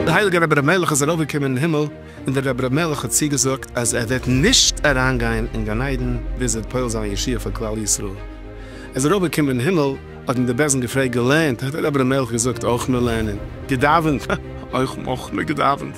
דער הייליגער רבי אלימלך איז ארויפגעקומען אין הימל, און דער רבי אלימלך האט צוגעזאגט אז ער וועט נישט אריינגיין אין גן עדן ביז ער וועט פועל זיין א ישועה פאר כלל ישראל. ער איז ארויפגעקומען אין הימל, האט אים דער בעש ט געפרעגט, געלערנט? האט דער רבי אלימלך געזאגט, אויך מיר לערנען. געדאווענט? אויך מיר געדאווענט.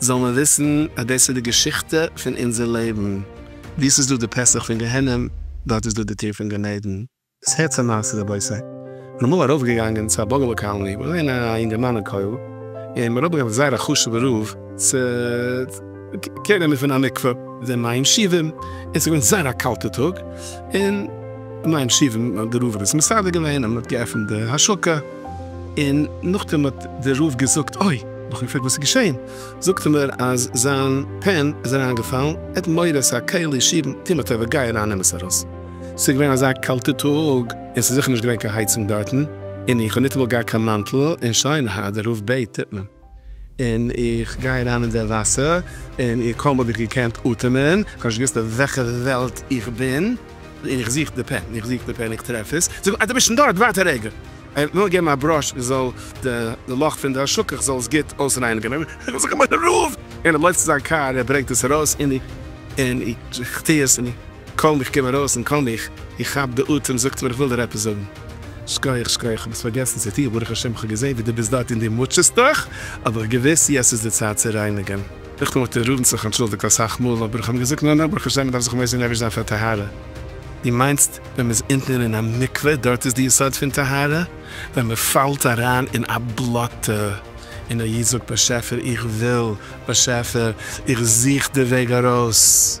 זאל מען וויסן אז דאס איז די געשיכטע פון אונזער לעבן, וואו ס'איז דא די פסח פון גיהנום, דארט איז דא די טיר פון גן עדן. עס הערט צו מעשה רבותי, כ'בין אמאל ארויפגעגאנגען צו א באגעלע קאלני, כ'בין געווען א אינגערמאן אין כולל, און מ'האט אראפגעברענגט א זייער א חשובע רב צו קעיר נעמען פון א מקווה, די מים שאיבים, און ס'איז געווען זייער א קאלטע טאג, און די מים שאיבים, די רב האט עס מסדר געווען, און מ'האט געעפנט די השקה, און נאכדעם האט דער רב געזאגט אוי, נאכן געפרעגט וואס איז געשעהן, זאגט ער מיר אז זיין פען איז אריינגעפאלן, ער האט מורא ס'איז א כלי שירן, טו מיר א טובה גיי אריין נעם עס ארויס, ס'איז געווען אזא קאלטע טאג און ס'איז זיכער נישט געווען קיין הייצונג דארטן, און איך האב ניטאמאל געהאט קיין מאנטל, און שוין הא דער רב בעט טוט מען. און איך גיי אריין אין דער וואסער, און איך קוים האב איך געקענט אטעמען, איך האב נישט געוואוסט אויף וועלכע וועלט איך בין, און איך זוך די פען, איך זוך די פען, איך טרעף עס, זאג, אה דו ביסט שוין דארט, ווארט א רגע, איך וויל געבן א בראש, איך זאל די לאך פון די שקך זאל עס גוט אויסרייניגן, און איך זיך א מנהל, און ער לויפט צו זיין קאר, ער ברענגט עס ארויס, און איך טו עס, און. קוים איך קום ארויס און קוים איך איך כאפ די אטעם זאגט מיר איך וויל דיר עפעס זאגן. שכוח שכוח איך האב עס פארגעסן צו טוהן ברוך השם איך האב געזעהן ווי דו ביסט דארט און דו מוטשעסט דיך אבער געוויס יעצט איז די צייט צו רייניגען. איך האב מיט די רבין זיך אנטשולדיגט אסאך מאל אבער איך האב אים געזאגט נא נא ברוך השם מען דארף זיך מוסר נפש זיין פאר טהרה דו מיינסט ווען מען איז אונטן אין א מקווה דארט איז די יסוד פון טהרה ווען מען פאלט אריין אין א בלאטע און א איד זאגט באשעפער איך וויל באשעפער איך זוך די וועג ארויס.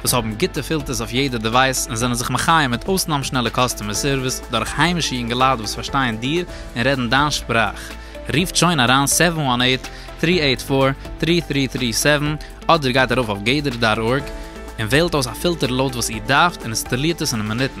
וואס האבן גוטע פילטערס אויף יעדע דעווייס און זענען זיך מחיה מיט אויסנאם שנעלע קאסטומער סערוויס דורך היימישע יונגעלייט וואס פארשטייען דיר און רעדן דיין שפראך. רופט שוין אריין סעווען וואן עיט, טרי עיט פאר, טרי טרי טרי סעווען אדער גייט ארויף אויף גדר דאט ארג און וועלט אויס א פילטער לויט וואס איר דארפט און אינסטאלירט עס אין מינוטן.